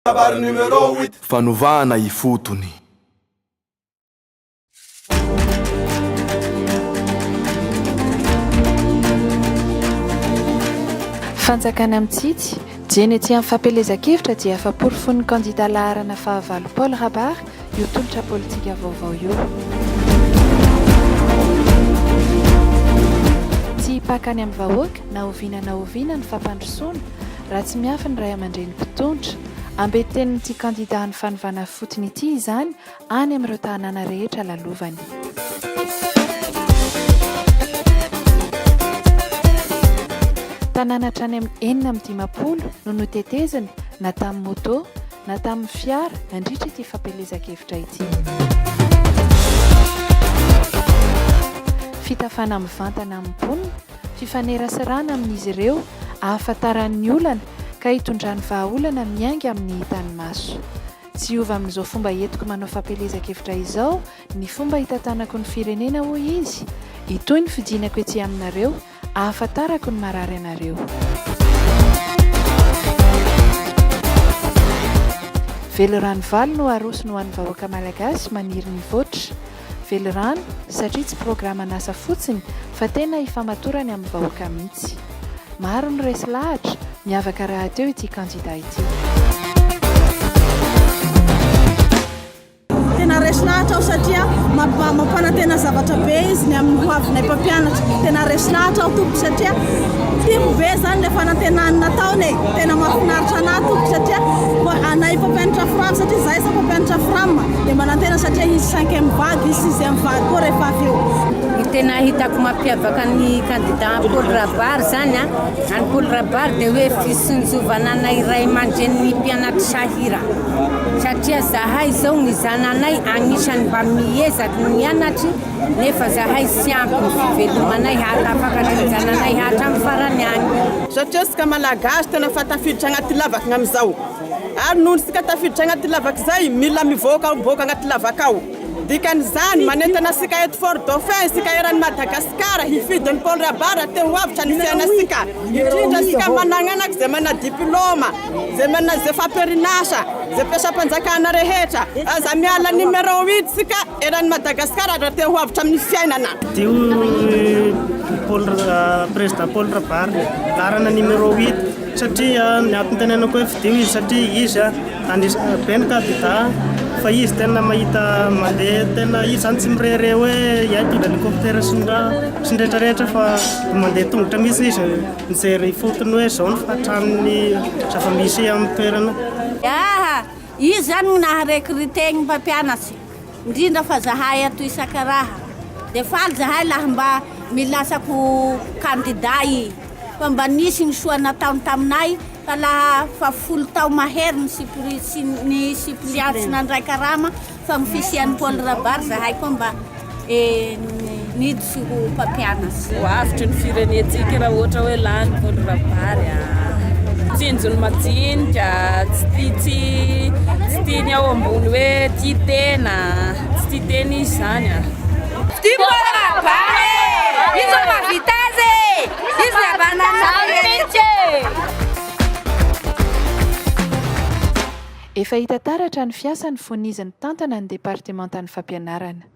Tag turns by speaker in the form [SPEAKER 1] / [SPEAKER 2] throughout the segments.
[SPEAKER 1] Kabary numéro huit. Fanovana ifotony.
[SPEAKER 2] Fanjakana mitsitsy, dieny ety amin'ny fampielezan-kevitra dia efa porofoin'ny kandida laharana fahavalo Paul Rabary io tolotra politika vaovao io. Tsy hipaka any amin'ny vahoaka na oviana na oviana ny fampandrosoana, Raha tsy miafy ny ray aman-dreny mpitondra, ambetenin'ity kandida an'ny fanovana fotony ity izany any amin'ireo tanàna rehetra lalovany. Tanàna hatrany amin'ny enina amby dimampolo no notetezina na tamin'ny moto na tamin'ny fiara nandritra ity fampielezan-kevitra ity. Fitafana mivantana amin'ny mponina. fifaneraserana amin'izy ireo, ahafantarany ny olana ka hitondrany vahaolana miainga amin'ny hitan'ny maso. Tsy hiova amin'izao fomba entiko manao fampielezan-kevitra izao ny fomba hitantanako ny firenena, hoy izy. Hitohy ny fidinako etsy aminareo, ahafantarako ny marary anareo. Velirano valo no arosony ho an'ny vahoaka Malagasy maniry ny voatra. Velirano satria tsy programan'asa fotsiny fa tena ifamatorany amin'ny vahoaka mihitsy. Maro ny resy lahatra, miavaka rahateo ity kandida ity.
[SPEAKER 3] tena resy lahatra aho satria mampanantena zavatra be izy ny amin'ny hoavinay mpampianatra tena resy lahatra aho tompoko satria Tim ve zany le fanantenany nataony e tena mafinaritra anah tompoko satria anah efa mpianatra fram satria zah efa mpianatra fram de manantena satria hisy cinquième vague hisy sixième vague koa rehefa avy eo ny tena hitako
[SPEAKER 4] mampiavaka ny kandida Paoly Rabary zany a any Paoly Rabary de hoe fisonjovana anay ray aman-drenin'ny mpianatry sahira satria zahay zao ny zananay agnisan'ny mba miezaky ny mianatry Nefa zahay tsy ampy ny fivelomanay hahatafaka sy ny zananay hatramin'ny farany any. Satria isika
[SPEAKER 3] Malagasy tena efa tafiditra anaty lavaka amin'izao. Ary noho isika tafiditra anaty lavaka izay, mila mivoaka mivoaka anaty lavaka ao. Dikan'izany, manentana antsika eto Fort Dauphin isika eran'i Madagasikara hifidy ny Paul Rabary raha te ho avotra ny fiainantsika. Indrindra isika managnanaka izay mana diplaoma. Ze manana ze famperinasa, ze mpiasam-panjakana rehetra, aza miala numéro un tsika eran'i Madagascar raha te ho avotra amin'ny fiainana. Dio i
[SPEAKER 5] Paul Président Paul Rabary laharana numéro huit satria ny antontenenako hoe fidio izy satria izy andrisika be ny kandida fa izy tena mahita mandeha tena izy zany tsy mirehareha hoe iay hitondra hélicoptère sy ny raha sy ny retraretra fa mandeha tongotra mihitsy izy. Mijery ifotony hoe izao ny fahatran'ny zava-misy amin'ny toerana. Aa!
[SPEAKER 4] Izy zany no naha recruter ny mpampianatry, indrindra fa zahay ato Isakaraha. Dia faly zahay laha mba milasako candidat i. Fa mba nisy ny soa nataony taminay fa laha fa folo tao mahery ny suppli, ny suppleants nandray karama, Fa ny fisian'i Paul Rabary zahay koa mba niditra ho mpampianatra. Ho avotry ny
[SPEAKER 6] firenentsika raha ohatra hoe lany Paul Rabary a! Tsinjony majinika, tsy tia tsy tsy tia ny ao ambony hoe tia tena, tsy tia tena izy zany a! Tia
[SPEAKER 4] Paul Rabary e! Izy no mahavita azy e! Izy no havanana anay rehetra e!
[SPEAKER 2] Efa hita taratra ny fiasany fony izy nitantana ny departemantan'ny fampianarana.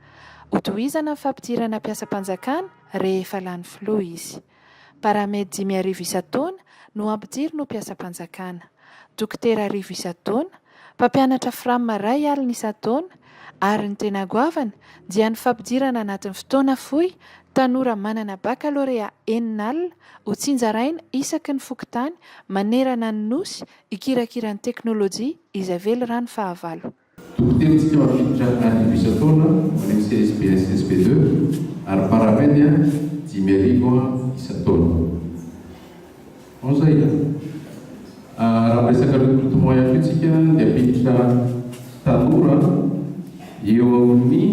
[SPEAKER 2] Hotohizana ny fampidirana mpiasam-panjakana rehefa lany filoha izy. Paramedy dimy arivo isan-taona no hampidiriny ho mpiasam-panjakana. Dokotera arivo isan-taona, mpampianatra fram iray alina isan-taona ary ny tena goavana dia ny fampidirana anatin'ny fotoana fohy tanora manana bakalorea enina alina hotsinjaraina isaky ny fokontany manerana ny Nosy Hikirakira ny teknolojia izy avely raha ny fahavalo. Toro-kevitsika ho
[SPEAKER 7] atolotra arivo isan-taona ho an'ny CSPS SP deux ary Paramedia dimy arivo isan-taona. Onzaina. Raha miresaka recrutement ihany koa isika dia hampiditra tanora eo amin'ny.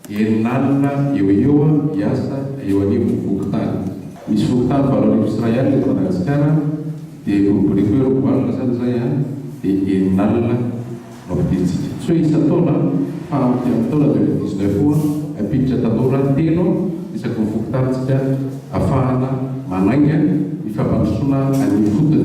[SPEAKER 7] Eny lalina eo ho eo aho hiasa eo anivon'ny fokontany. Misy fokontany valo arivo sy iray alina eto Madagasikara dia boriboriako eo roa alina izany izay an, dia eny lalina no ampidirintsika. Tsy hoe isan-taona fa amin'ity amin'ny taona deux mille dix neuf io ampiditra tanora telo isaky ny fokontanintsika afahana manainga ny fampandrosoana an'ifotony.